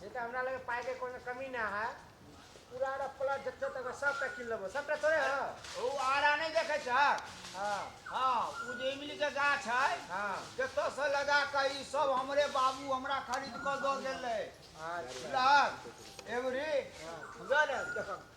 से तऽ हमरा लगे पाइके कोनो कमी ना है पूरा आरा प्लॉट जते तक है, सबटा किन लेबो सबटा तोरे है ओ आरा नहि देखै छ हाँ हाँ ओ जे इमली के गाछ है हाँ जतऽ से लगा कऽ ई सब हमरे बाबू हमरा खरीद कऽ दऽ गेल रहै अच्छा बुझलहक एबरी बुझल है देखक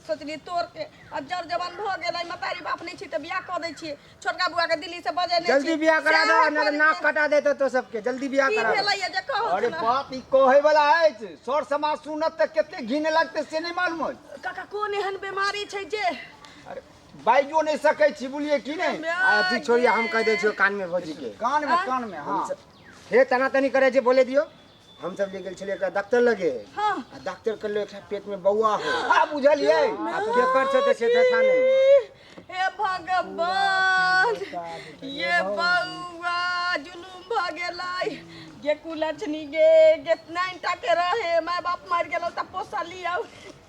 सोचलियै तोड़के आ जर जवान भऽ गेल अइ मतारी बाप नहि छी तऽ बियाह कऽ दै छियै छोटका बुआ के दिल्ली से बजे नहि जल्दी बियाह करा दो ना तो नाक कटा देते तो सबके जल्दी बियाह की करा दो भेलैया जे कहू अरे सुना। बाप ई कहे वाला अछि सर समाज सुनत तऽ कते घिन लगते से नहि मालूम अछि काका कोन एहन बीमारी छै जे अरे बाइजो नहि सकै छी बुझलियै कि नहि आ तू छोड़िया हम कह दे छियो कान में भौजी के कान मे कान मे हाँ हे तना तनी करे जे बोले दियो हम सब ले गेल छलिए एकरा डॉक्टर लगे हाँ। आ डॉक्टर कहले एकरा पेट में बौआ हो आ बुझलिए आ केकर से ते से था नहीं हे भगवान ये बउआ जुलूम भ गेलै ये कुलछनी गे कितना इंटा के रहे माय बाप मर गेलो त पोसली आउ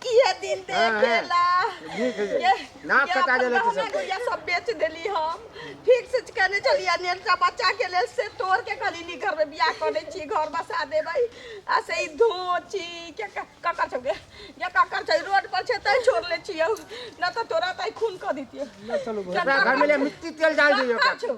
किए दिन देखेला नीक है ये। नाक कटा गेलै तऽ सब। गुड़िया सब बेच देली हम ठीक से कहने चलिए नेटा बच्चा के लेल से तोड़ के कहली नी घर में बियाह करे छी घर बसा देबै आ से ई धोची के क- ककर छौ गे ये ककर छै रोड पर छै तै छोड़ ले छियौ न तऽ तोरा तै खून कऽ दितियौ चलू घर में ले मिट्टी तेल डाल दियो ककर छौ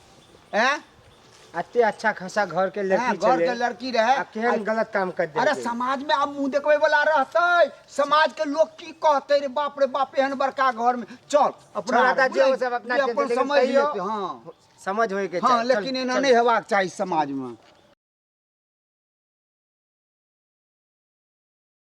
हैं अते अच्छा खासा घर के हैं, लड़की घर के चले लड़की रहे आ केहन गलत काम कर दे अरे समाज में आब मुंह देखबै वाला रहतै समाज के लोग की कहतै रे बाप रे बाप एहन बड़का घर में चल अपना छोड़ा ता जे ओ सब अपना जे अपन चलते, लेकिन समझ तैयो- लेतै हां समझ होए के हां चाही। लेकिन चल, एना चल। नहीं हेबाक चाही समाज में